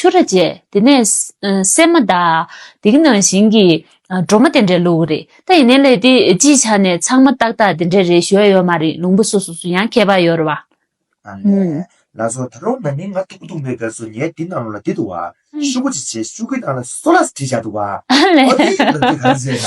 ཆུ་ར་བཅད། དེ་ནས། སྲན་མ་བརྡ། དེ་གི་ནང་བཞིན་གྱི། སྒྲོ་མ་དེ་འདྲའི་ལུགས་གི་རེད། ད་ཡིན་ནའི་ལས་དེ་སྤྱིའི་ཆ་ནས་ཚང་མ་ཏག་ཏག་དེ་འདྲའི་རེད་ཞོལ་ཡོད་མ་རེད་ལུང་པ་སོ་སོ་སུ་ཡང་ཁྱད་པར་ཡོད་རེད་བ། ཨ་ལས། ལ་སོ་ད་རུང་ན་ནིང་ང་ཐུག་པོ་ཐུག་མེད་ཀ་སོ་ངས་འདི་གནང་རུང་ལ་འདི་འདུག་བ། ཤུག་པོ་ཅིག་བྱས་ཤུག་གི་ནང་ལ་སོ་ལ་ཟ་བྲིས་བཞག་འདུག་བ། ཨ་ལས། ཨོ་དེ་ཡིན་ན་འདི་གང་ཟེར་ན།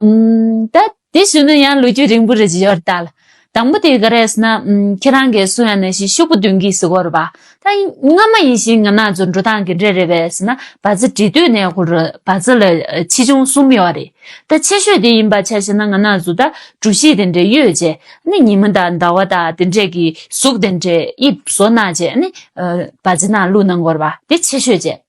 ད་དེ་ཞུ་ན་ཡང་ལོ་རྒྱུས་རིང་པོ་རེ་བཞི་ཡོར་ད་ལ་དང་པོ་དེ་ག་རེས་ན་ཁྱེད་རང་གིས་སུ་ཡང་ན་ཞིག་ཤུག་པོ་བདུན་གྱིས་ཟི་གོ་རུ་བ་ད་སྔ་མ་ཡིན་ཞིང་ང་ན་ཚོ་འགྲོ་སྟངས་གི་འདྲེ་རེ་བས་ན་བ་ཚི་འདྲི་དུས་ནས་ཧུ་རུ་བ་ཚི་ལ་ཆེ་ཆུང་གསུམ་ཡོ་རེ་ད་ཆེ་ཤོས་དེ་ཡིན་པ་ཆ་ཤི་ན་ང་ན་ཚོ་ད་གྲུ་བཞི་དེ་འདྲེ་ཡོད་རྗེས་ནི་ཉི་མ་དང་ཟླ་བ་དང་དེ་འདྲེ་གི་གཟུགས་དེ་འདྲེ་དབྱིབས་བཟོ་ན་རྗེས་ནི་བ་ཚི་ན་ལུ་ན་གོ་རུ་བ་དེ་ཆེ་ཤོས་རྗེས།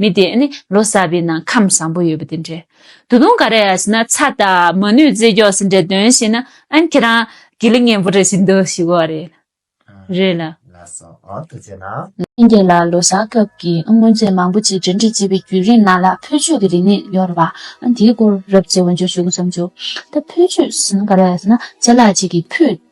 མི་དེ་ནི་ལོ་གསར་པའི་ནང་ཁམས་བཟང་པོ་ཡོད་པ་དེ་འདྲའི་ད་དུང་ག་རེ་ཡང་ཞེ་ན་ཚ་དང་མ་ནུས་རྩེད་རྒྱོགས་སུ་འདྲེ་འདོན་བྱེད་ན་ཨན་ཁྱེད་རང་དགེ་ལེགས་ངན་པོ་རེ་ཞིག་འདུག་ཞུ་གོ་རེད་རེད་ལ། ཨན་ཁྱེད་ལ་ལོ་གསར་སྐབས་ཀྱི་དངོས་རྫས་མང་པོ་ཅིག་འབྲེལ་འདྲིས་བྱས་པའི་བརྒྱུད་རིམ་ནང་ལ་ཕུལ་བྱོས་ཀྱི་རིག་གནས་ཡོད་རེད་པ་ཨན་དེའི་སྐོར་རབ་ཚེ་བོན་ཆོས་ཞུ་གི་བསམ་བྱོས། ད་ཕུལ་བྱོས་ཟེར་ན་ག་རེ་ཡང་ཞེ་ན་རྗེ་ལགས་གཅིག་གིས་ཕུལ།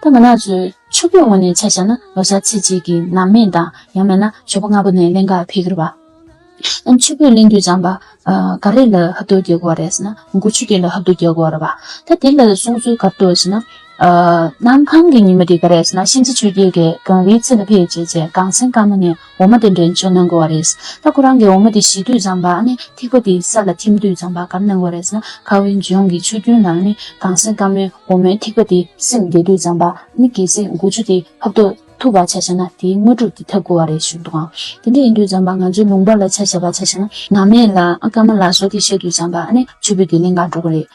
རྟ་མགོ་ནག་ཚོས་ཕྱུག་པོའི་ངོས་ནས་ཆ་བཞག་ན་ལོ་སར་ཚེས་གཅིག་གི་ནང་སྨད་དང་ཡང་མེད་ན་ཞོགས་པ་སྔ་པོ་ནས་གླེན་ག་འཕེལ་གྱི་རེད་པ། ཨ་ཕྱུག་པོས་གླེང་དུས་བྱམས་པ། ག་རེ་ལ་ཧབ་ཏུ་རྒྱག་དགོས་རེད་ཟེར་ན་མགོ་ཆུ་སྐྱེས་ལ་ཧབ་ཏུ་རྒྱག་དགོས་རེད་པ། ད་དེ་ལ་གསུངས་ཚུལ་ག་རེད་ཟེར་ན། གནམ་གང་གི་ཉི་མ་དེ་ག་རེད་ཟེར་ན་གཤིན་རྗེ་ཆོས་རྒྱལ་གྱིས་གངས་རིའི་ཚེ་ལ་ཕེབས་བྱས་རྗེས་གངས་སེང་དཀར་མོ་ནས་འོ་མ་དེ་འདྲེན་བྱེད་གནང་དགོས་བ་རེད། ད་ཁོ་རང་གིས་འོ་མ་དེ་བཞི་དུད་ཙམ་བག་ནས་ཐིགས་པ་དེའི་ས་ལ་ཐིམ་དུད་ཙམ་བག་གམ་གནང་བ་རེད་ན་ཁ་བའི་ལྗོངས་ཀྱི་ཆུ་རྒྱུན་ལ་ནི་གངས་སེང་དཀར་མོའི་འོ་མའི་ཐིགས་པ་དེ་སེམས་བདེ་དུད་ཙམ་བག་ནི་གལ་སྲིད་མགོ་ཆུ་དེ་ཕབ་ཐོག་ཐུབ་བག་ཆ་ཤ་ན་དེའི་དངོས་གྲུབ་དེ་ཐབས་དགོས་བ་རེད་ཞུ་འདུག་ཨང། དེ་འདྲ་ཡིན་དུད་ཙམ་བག་ང་ཚོའི་ལུང་པ་ལ་ཆ་ཤ་བག་ཆ་ཤ་ན་ནག་མེད་ལ་ཨ་དཀར་མ་ལ་སོགས་དེ་བཤད་དུད་ཙམ་བག་ནས་ཆུ་བོད་དེ་གླིང་ག་འགྲོ་གི་རེད།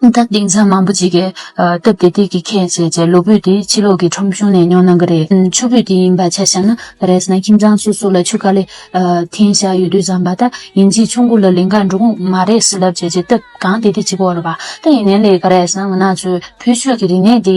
ད་དེང་སང་མང་པོ་ཅིག་གིས་སྟབས་བདེ་སྟེགས་ཀྱི་ཁེངས་བྱས་ཀྱི་ལུས་པོད་དེ་ཕྱི་ལོགས་ཀྱི་ཁྲོམ་གཞུང་ནས་ཉོ་གནང་གི་རེད། ཆུ་བོད་དེ་ཡིན་པ་ཆ་བཞག་ན་རེས་ན་ཁྱིམ་ཚང་སོ་སོ་ལ་ཆུ་ཀ་ལེ་འཐེན་བཞག་ཡོད་དུས་བཟང་པ་ད་ཡིན་གྱིས་ཆུ་མགོ་ལ་ལིང་ག་འབྲུག་མ་རེས་བསླབ་བྱས་ཀྱི་སྟབས་གང་བདེ་བདེ་ཅིག་འོག་ལ་བ་ད་ཡིན་ནའི་ལས་ཀ་རེས་ན་ང་ནག་ཆུ་བོད་ཆོས་ཀྱི་རིག་གནས་འདི་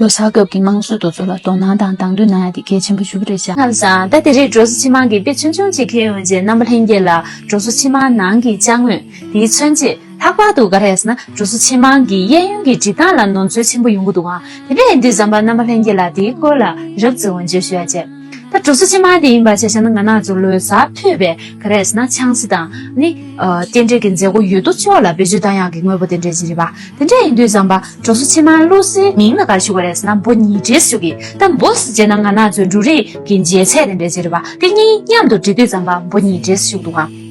ལོ་གསར་སྐབས་ཀྱི་དམངས་སྲོལ་དུ་ཚོ་ལ་དོ་སྣང་དང་དང་དུ་ན་ཡ་དེ་གལ་ཆེན་པོ་ཞུ་གི་རེད་བྱ། ཁམས་བཟང། ཟླ་དེ་རེའི་འབྲོག་བཟོ་སྤྱི་དམངས་ཀྱི་དཔེ་ཆུང་ཆུང་ཅིག་ཁེལ་ཡོང་རྗེས་རྣམ་པ་ལྷན་རྒྱས་ལ་འབྲོག་བཟོ་སྤྱི་དམངས་ནང་གི་དཔྱ་དངོས་དེའི་མཚོན་བྱེད་ལྷག་པར་དུ་འགའ་རེས་ན་འབྲོག་བཟོ་སྤྱི་དམངས་ཀྱི་གཡས་གཡོན་གྱི་འབྲི་སྟངས་ལ་ནོར་འཛོལ་ཆེན་པོ་ཡོང་གི་འདུག་ཨང། དེ་ནས་འདིར་ཟམ་པ་རྣམ་པ་ལྷན་རྒྱས་ལ་དེའི་སྐོར་ལ་རབ་བརྩེ་བ་འབྱོར་ཞུ་ཡ་བྱས། ད་གྲུབ་ཚུལ་ཅི་མ་དེ་ཡིན་པ་ཞེས་བྱ་ན་ང་ནག་ཆུ་ལོའི་གཟའ་ཐོས་པའི་ག་རེ་ཟེར་ན་ཆང་སྲི་དང་ནི། རྟེན་འབྲེལ་གྱི་མཛད་སྒོ་ཡོད་དོ་ཅོག་ལ་བེད་སྤྱོད་བསྟར་ཡག་གི་དངོས་པོ་རྟེན་འབྲེལ་གྱི་རིག་པ་དེ་འདྲ་ཡིན་དུས་བཟང་པ་གྲུབ་ཚུལ་ཕྱི་མ་ཀླུ་སྲིའི་མིང་ལ་ག་རེ་ཞུ་ག་རེ་ཟེར་ན་འབོ་ཉིས་འབྲེལ་ཞུ་གི་ད་འབོ་སྲི་བྱས་ན་ང་ནག་ཆུའི་འབྲུ་རིགས་ཀྱི་འཇལ་ཚད་རྟེན་འབྲེལ་གྱི་རིག་པ་དེ་གཉིས་མཉམ་དུ་འབྲེལ་དུས་བཟང་པ་འབོ་ཉིས་འབྲེལ་ཞུ་འདུག་གམ།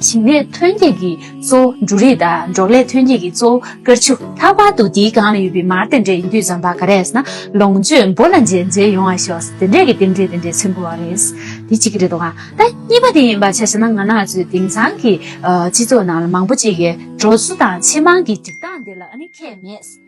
ཞིང་ལས་ཐོན་སྐྱེད་ཀྱི་གཙོ་བོ་འབྲུ་རིགས་དང་འབྲོག་ལས་ཐོན་སྐྱེད་ཀྱི་གཙོ་བོ་དཀར་ཆུ། ལྷག་པར་དུ་དེའི་སྒང་ལ་ཡོད་པའི་མར་དེ་འདྲས་ཡིན་དུས་རྩམ་པ་ག་རེ་ཟ་ན་ལོངས་སྤྱོད་འབོར་ལ་འཇལ་མཇལ་ཡོང་བ་ཤོག་ཟེར་དེ་འདྲས་ཀྱི་རྟེན་འབྲེལ་དེ་འདྲས་མཚོན་དགོས་བ་རེད། དེ་གཅིག་རེད་དོ། ད་གཉིས་པ་དེ་ཡིན་པ་ཆ་ཤས་ན་ང་ནག་ཆུ་དེང་སང་གི་སྤྱི་ཚོགས་ནང་ལ་མང་པོ་ཅིག་གིས་གྲོ་ཆུ་དང་ཕྱེ་མང་གི་སྒྲིག་སྟངས་དེ་ལ་ཨ་ནི་ཁྱད་མེད།